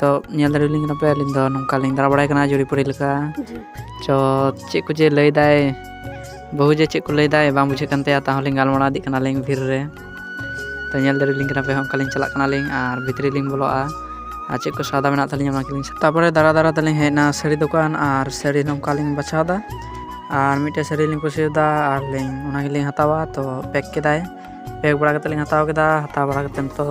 ᱛᱚ ᱧᱮᱞ ᱫᱟᱲᱮᱭᱟᱞᱤᱧ ᱠᱟᱱᱟ ᱯᱮ ᱟᱹᱞᱤᱧ ᱫᱚ ᱱᱚᱝᱠᱟᱞᱤᱧ ᱫᱟᱬᱟ ᱵᱟᱲᱟᱭ ᱠᱟᱱᱟ ᱡᱩᱨᱤᱯᱩᱨᱤ ᱞᱮᱠᱟ ᱪᱚ ᱪᱮᱫ ᱠᱚ ᱡᱮ ᱞᱟᱹᱭᱫᱟᱭ ᱵᱟᱹᱦᱩ ᱡᱮ ᱪᱮᱫ ᱠᱚ ᱞᱟᱹᱭᱫᱟᱭ ᱵᱟᱝ ᱵᱩᱡᱷᱟᱹᱜ ᱠᱟᱱ ᱛᱟᱭᱟ ᱛᱟᱦᱚᱞᱮ ᱜᱟᱞᱢᱟᱨᱟᱣ ᱤᱫᱤᱜ ᱠᱟᱱᱟᱞᱤᱧ ᱵᱷᱤᱨ ᱨᱮ ᱛᱚ ᱧᱮᱞ ᱫᱟᱲᱮᱭᱟᱞᱤᱧ ᱠᱟᱱᱟ ᱯᱮ ᱚᱱᱠᱟᱞᱤᱧ ᱪᱟᱞᱟᱜ ᱠᱟᱱᱟᱞᱤᱧ ᱟᱨ ᱵᱷᱤᱛᱨᱤ ᱞᱤᱧ ᱵᱚᱞᱚᱜᱼᱟ ᱟᱨ ᱪᱮᱫ ᱠᱚ ᱥᱟᱣᱫᱟ ᱢᱮᱱᱟᱜ ᱛᱟᱹᱞᱤᱧᱟ ᱚᱱᱟ ᱠᱚᱞᱤᱧ ᱛᱟᱨᱯᱚᱨᱮ ᱫᱟᱬᱟ ᱫᱟᱬᱟ ᱛᱮᱞᱤᱧ ᱦᱮᱡ ᱮᱱᱟ ᱥᱟᱹᱲᱤ ᱫᱚᱠᱟᱱ ᱟᱨ ᱥᱟᱹᱲᱤ ᱱᱚᱝᱠᱟᱞᱤᱧ ᱵᱟᱪᱷᱟᱣᱫᱟ ᱟᱨ ᱢᱤᱫᱴᱮᱡ ᱥᱟᱹᱲᱤ ᱞᱤᱧ ᱠᱩᱥᱤᱭᱟᱫᱟ ᱟᱨ ᱞᱤᱧ ᱚᱱᱟ ᱜᱮᱞᱤᱧ ᱦᱟᱛᱟᱣᱟ ᱛᱚ ᱯᱮᱠ ᱠᱮᱫᱟᱭ ᱯᱮᱠ ᱵᱟᱲᱟ ᱠᱟᱛᱮᱫ ᱞᱤᱧ ᱦᱟᱛᱟᱣ ᱠᱮᱫᱟ ᱦᱟᱛᱟᱣ ᱵᱟᱲᱟ ᱠᱟᱛᱮᱫ ᱱᱤᱛᱚᱜ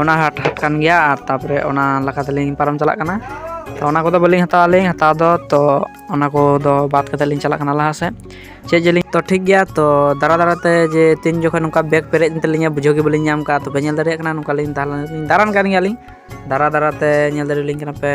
ᱚᱱᱟ ᱦᱟᱴ ᱦᱟᱴ ᱠᱟᱱ ᱜᱮᱭᱟ ᱟᱨ ᱛᱟᱯᱚᱨᱮ ᱚᱱᱟ ᱞᱮᱠᱟ ᱛᱮᱞᱤᱧ ᱯᱟᱨᱚᱢ ᱪᱟᱞᱟᱜ ᱠᱟᱱᱟ ᱛᱚ ᱚᱱᱟ ᱠᱚᱫᱚ ᱵᱟᱹᱞᱤᱧ ᱦᱟᱛᱟᱣᱟ ᱞᱤᱧ ᱦᱟᱛᱟᱣ ᱫᱚ ᱛᱚ ᱚᱱᱟ ᱠᱚᱫᱚ ᱵᱟᱫ ᱠᱟᱛᱮᱫ ᱞᱤᱧ ᱪᱟᱞᱟᱜ ᱠᱟᱱᱟ ᱞᱟᱦᱟ ᱥᱮᱫ ᱪᱮᱫ ᱡᱮᱞᱤᱧ ᱛᱚ ᱴᱷᱤᱠ ᱜᱮᱭᱟ ᱛᱚ ᱫᱟᱬᱟ ᱫᱟᱬᱟ ᱛᱮ ᱡᱮ ᱛᱤᱱ ᱡᱚᱠᱷᱚᱱ ᱱᱚᱝᱠᱟ ᱵᱮᱜᱽ ᱯᱮᱨᱮᱡ ᱮᱱ ᱛᱟᱹᱞᱤᱧᱟ ᱵᱩᱡᱷᱟᱹᱣ ᱜᱮ ᱵᱟᱹᱞᱤᱧ ᱧᱟᱢ ᱠᱟᱜᱼᱟ ᱛᱚᱵᱮ ᱧᱮᱞ ᱫᱟᱲᱮᱭᱟᱜ ᱠᱟᱱᱟ ᱱᱚᱝᱠᱟᱞᱤᱧ ᱫᱟᱬᱟᱱ ᱠᱟᱱ ᱜᱮᱭᱟᱞᱤᱧ ᱫᱟᱬᱟ ᱫᱟᱬᱟ ᱛᱮ ᱧᱮᱞ ᱫᱟᱲᱮᱭᱟᱞᱤᱧ ᱠᱟᱱᱟ ᱯᱮ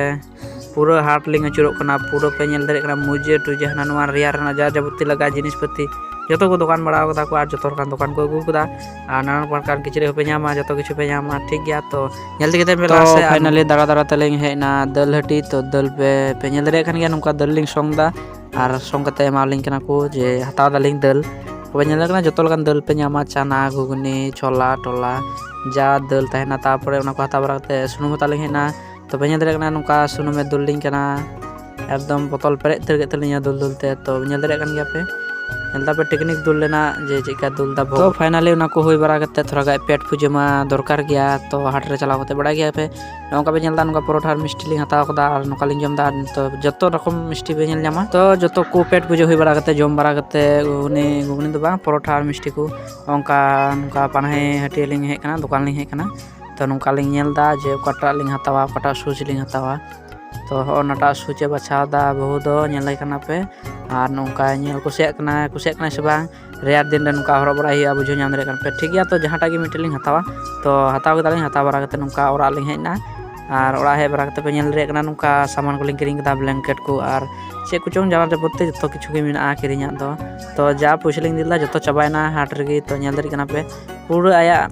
ᱯᱩᱨᱟᱹ ᱦᱟᱴ ᱞᱤᱧ ᱟᱹᱪᱩᱨᱚᱜ ᱠᱟᱱᱟ ᱯᱩᱨᱟᱹ ᱯᱮ ᱧᱮᱞ ᱫᱟᱲᱮᱭᱟᱜ ᱠᱟᱱᱟ ᱢᱩᱡᱮ ᱴᱩᱡᱮ ᱦᱟᱱᱟ ᱱᱚᱣᱟ ᱨᱮᱭᱟᱲ ᱨᱮᱱᱟᱜ ᱡᱟ ᱡᱟᱵᱚᱛᱤ ᱞᱟᱜᱟᱜᱼᱟ ᱡᱤᱱᱤᱥ ᱯᱟᱹᱛᱤ ᱡᱚᱛᱚ ᱠᱚ ᱫᱚᱠᱟᱱ ᱵᱟᱲᱟ ᱠᱟᱫᱟ ᱠᱚ ᱟᱨ ᱡᱚᱛᱚ ᱞᱮᱠᱟᱱ ᱫᱚᱠᱟᱱ ᱠᱚ ᱟᱹᱜᱩ ᱠᱟᱫᱟ ᱟᱨ ᱱᱟᱱᱟ ᱯᱨᱚᱠᱟᱨ ᱠᱤᱪᱨᱤᱡ ᱦᱚᱸᱯᱮ ᱧᱟᱢᱟ ᱡᱚᱛᱚ ᱠᱤᱪᱷᱩ ᱯᱮ ᱧᱟᱢᱟ ᱴᱷᱤᱠ ᱜᱮᱭᱟ ᱛᱚ ᱧᱮᱞ ᱛᱮᱜᱮ ᱛᱟᱦᱮᱱ ᱯᱮ ᱞᱟᱦᱟ ᱥᱮᱫ ᱯᱷᱟᱭᱱᱟᱞᱤ ᱫᱟᱬᱟ ᱫᱟᱬᱟ ᱛᱮᱞᱤᱧ ᱦᱮᱡ ᱮᱱᱟ ᱫᱟᱹᱞ ᱦᱟᱹᱴᱤ ᱛᱚ ᱫᱟᱹᱞ ᱯᱮ ᱯᱮ ᱧᱮᱞ ᱫᱟᱲᱮᱭᱟᱜ ᱠᱟᱱ ᱜᱮᱭᱟ ᱱᱚᱝᱠᱟ ᱫᱟᱹᱞ ᱞᱤᱧ ᱥᱚᱝ ᱮᱫᱟ ᱟᱨ ᱥᱚᱝ ᱠᱟᱛᱮ ᱮᱢᱟᱞᱤᱧ ᱠᱟᱱᱟ ᱠᱚ ᱡᱮ ᱦᱟᱛᱟᱣ ᱫᱟᱞᱤᱧ ᱫᱟᱹᱞ ᱛᱚᱵᱮ ᱧᱮᱞ ᱠᱟᱱᱟ ᱡᱚᱛᱚ ᱞᱮᱠᱟᱱ ᱫᱟᱹᱞ ᱯᱮ ᱧᱟᱢᱟ ᱪᱟᱱᱟ ᱜᱷᱩᱜᱽᱱᱤ ᱪᱷᱚᱞᱟ ᱴᱚᱞᱟ ᱡᱟ ᱫᱟᱹᱞ ᱛᱟᱦᱮᱱᱟ ᱛᱟᱨᱯᱚᱨᱮ ᱚᱱᱟ ᱠᱚ ᱦᱟᱛᱟᱣ ᱵᱟᱲᱟ ᱠᱟᱛᱮ ᱥᱩᱱᱩᱢ ᱦᱟᱛᱟᱣ ᱞᱤᱧ ᱦᱮᱡ ᱮᱱᱟ ᱛᱚ ᱵᱟᱹᱧ ᱧᱮᱞ ᱫᱟᱲᱮᱭᱟᱜ ᱠᱟᱱᱟ ᱱᱚᱝᱠᱟ ᱥᱩᱱᱩᱢᱮ ᱫᱩᱞ ᱞᱤᱧ ᱠᱟᱱᱟ ᱮᱠᱫᱚᱢ ᱵᱚᱛᱚᱞ ᱯᱮᱨᱮᱡ ᱩᱛᱟᱹᱨ ᱠᱮᱫ ᱛᱟᱹᱞᱤᱧᱟ ᱫᱩᱞ ᱫᱩᱞ ᱛᱮ ᱛᱚ ᱧᱮᱞ ᱫᱟᱲᱮᱭᱟᱜ ᱠᱟᱱ ᱜᱮᱭᱟ ᱯᱮ ᱧᱮᱞ ᱫᱟᱯᱮ ᱴᱮᱠᱱᱤᱠ ᱫᱩᱞ ᱞᱮᱱᱟ ᱡᱮ ᱪᱮᱫ ᱞᱮᱠᱟ ᱫᱩᱞ ᱫᱟ ᱛᱚ ᱯᱷᱟᱭᱱᱟᱞᱤ ᱚᱱᱟ ᱠᱚ ᱦᱩᱭ ᱵᱟᱲᱟ ᱠᱟᱛᱮ ᱛᱷᱚᱲᱟ ᱜᱟᱱ ᱯᱮᱴ ᱯᱩᱡᱟᱹ ᱢᱟ ᱫᱚᱨᱠᱟর ᱜᱮᱭᱟ ᱛᱚ ᱦᱟᱴ ᱨᱮ ᱪᱟᱞᱟᱣ ᱠᱟᱛᱮ ᱵᱟᱲᱟᱭ ᱜᱮᱭᱟ ᱯᱮ ᱱᱚᱝᱠᱟ ᱯᱮ ᱧᱮᱞ ᱫᱟ ᱱᱚᱝᱠᱟ ᱯᱚᱨᱚᱴᱷᱟ ᱟᱨ ᱢᱤᱥᱴᱤ ᱞᱤᱧ ᱦᱟᱛᱟᱣ ᱠᱟᱫᱟ ᱟᱨ ᱱᱚᱝᱠᱟ ᱞᱤᱧ ᱡᱚᱢ ᱫᱟ ᱛᱚ ᱡᱚᱛᱚ ᱨᱚᱠᱚᱢ ᱢᱤᱥᱴᱤ ᱯᱮ ᱧᱮᱞ ᱧᱟᱢᱟ ᱛᱚ ᱡᱚᱛᱚ ᱠᱚ ᱯᱮᱴ ᱯᱩᱡᱟᱹ ᱦᱩᱭ ᱵᱟᱲᱟ ᱠᱟᱛᱮ ᱡᱚᱢ ᱵᱟᱲᱟ ᱠᱟᱛᱮ ᱜᱷᱩᱜᱽᱱᱤ ᱜᱷᱩᱜᱽᱱᱤ ᱫᱚ ᱵᱟᱝ ᱯᱚᱨᱚᱴᱷᱟ ᱟᱨ ᱢᱤᱥᱴᱤ ᱠᱚ ᱚᱱᱠᱟ ᱱᱚᱝᱠᱟ ᱯᱟᱱᱟᱦᱤ ᱦᱟᱹᱴᱭᱟᱹ ᱞᱤᱧ ᱦᱮᱡ ᱠᱟᱱᱟ ᱫᱚᱠᱟᱱ ᱞᱤᱧ ᱦᱮᱡ ᱠᱟᱱᱟ ᱛᱚ ᱱᱚᱝᱠᱟ ᱞᱤᱧ ᱧᱮᱞ ᱮᱫᱟ ᱡᱮ ᱚᱠᱟᱴᱟᱜ ᱞᱤᱧ ᱦᱟᱛᱟᱣᱟ ᱚᱠᱟᱴᱟᱜ ᱥᱩᱡᱽ ᱞᱤᱧ ᱦᱟᱛᱟᱣᱟ ᱛᱚ ᱦᱚᱜᱼᱚ ᱱᱟᱴᱟᱜ ᱥᱩᱡᱽ ᱮ ᱵᱟᱪᱷᱟᱣ ᱮᱫᱟ ᱵᱟᱹᱦᱩ ᱫᱚ ᱧᱮᱞᱮ ᱠᱟᱱᱟ ᱯᱮ ᱟᱨ ᱱᱚᱝᱠᱟ ᱧᱮᱞ ᱠᱩᱥᱤᱭᱟᱜ ᱠᱟᱱᱟ ᱠᱩᱥᱤᱭᱟᱜ ᱠᱟᱱᱟᱭ ᱥᱮ ᱵᱟᱝ ᱨᱮᱭᱟᱲ ᱫᱤᱱ ᱨᱮ ᱱᱚᱝᱠᱟ ᱦᱚᱨᱚᱜ ᱵᱟᱲᱟᱭ ᱦᱩᱭᱩᱜᱼᱟ ᱵᱩᱡᱷᱟᱹᱣ ᱧᱟᱢ ᱫᱟᱲᱮᱭᱟᱜ ᱠᱟᱱᱟ ᱯᱮ ᱴᱷᱤᱠ ᱜᱮᱭᱟ ᱛᱚ ᱡᱟᱦᱟᱸᱴᱟᱜ ᱜᱮ ᱢᱤᱫᱴᱮᱱ ᱞᱤᱧ ᱦᱟᱛᱟᱣᱟ ᱛᱚ ᱦᱟᱛᱟᱣ ᱠᱮᱫᱟᱞᱤᱧ ᱦᱟᱛᱟᱣ ᱵᱟᱲᱟ ᱠᱟᱛᱮᱫ ᱱᱚᱝᱠᱟ ᱚᱲᱟᱜ ᱞᱤᱧ ᱦᱮᱡ ᱮᱱᱟ ᱟᱨ ᱚᱲᱟᱜ ᱦᱮᱡ ᱵᱟᱲᱟ ᱠᱟᱛᱮᱫ ᱯᱮ ᱧᱮᱞ ᱫᱟᱲᱮᱭᱟᱜ ᱠᱟᱱᱟ ᱱᱚᱝᱠᱟ ᱥᱟᱢᱟᱱ ᱠᱚᱞᱤᱧ ᱠᱤᱨᱤᱧ ᱠᱮᱫᱟ ᱵᱞᱮᱝᱠᱮᱴ ᱠᱚ ᱟᱨ ᱪᱮᱫ ᱠᱚᱪᱚᱝ ᱡᱟᱢᱟ ᱡᱟᱵᱚᱛᱤ ᱡᱚᱛᱚ ᱠᱤᱪᱷᱩ ᱜᱮ ᱢᱮᱱᱟᱜᱼᱟ ᱠᱤᱨᱤᱧᱟᱜ ᱫᱚ ᱛᱚ ᱡᱟ ᱯᱚᱭᱥᱟ ᱞᱤᱧ ᱤᱫᱤ ᱞᱮᱫᱟ ᱡᱚᱛᱚ ᱪᱟᱵᱟᱭᱮᱱᱟ ᱦᱟᱴ ᱨᱮᱜᱮ ᱛᱚ ᱧᱮᱞ ᱫᱟᱲᱮᱭᱟᱜ ᱠᱟᱱᱟ ᱯᱮ ᱯᱩᱨᱟᱹ ᱟᱭᱟᱜ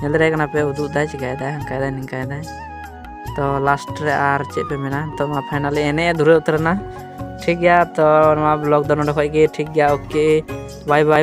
ᱧᱮᱞ ᱫᱟᱲᱮᱭᱟᱜ ᱠᱟᱱᱟ ᱯᱮ ᱩᱫᱩᱜ ᱫᱟᱭ ᱪᱤᱠᱟᱭᱮᱫᱟᱭ ᱦᱟᱱᱠᱟᱭᱮᱫᱟᱭ ᱱᱤᱝᱠᱟᱭᱮᱫᱟᱭ ᱛᱚ ᱞᱟᱥᱴ ᱨᱮ ᱟᱨ ᱪᱮᱫ ᱯᱮ ᱢᱮᱱᱟ ᱛᱚ ᱢᱟ ᱯᱷᱟᱭᱱᱟᱞᱤ ᱮᱱᱮᱡ ᱮ ᱫᱷᱩᱨᱟᱹᱣ ᱩᱛᱟᱹᱨᱮᱱᱟ ᱴᱷᱤᱠ ᱜᱮᱭᱟ ᱛᱚ ᱱᱚᱣᱟ ᱵᱞᱚᱜ ᱫᱚ ᱱᱚᱰᱮ ᱠᱷᱚᱡ ᱜᱮ ᱴᱷᱤᱠ ᱜᱮᱭᱟ ᱳᱠᱮ ᱵᱟᱭ ᱵᱟᱭ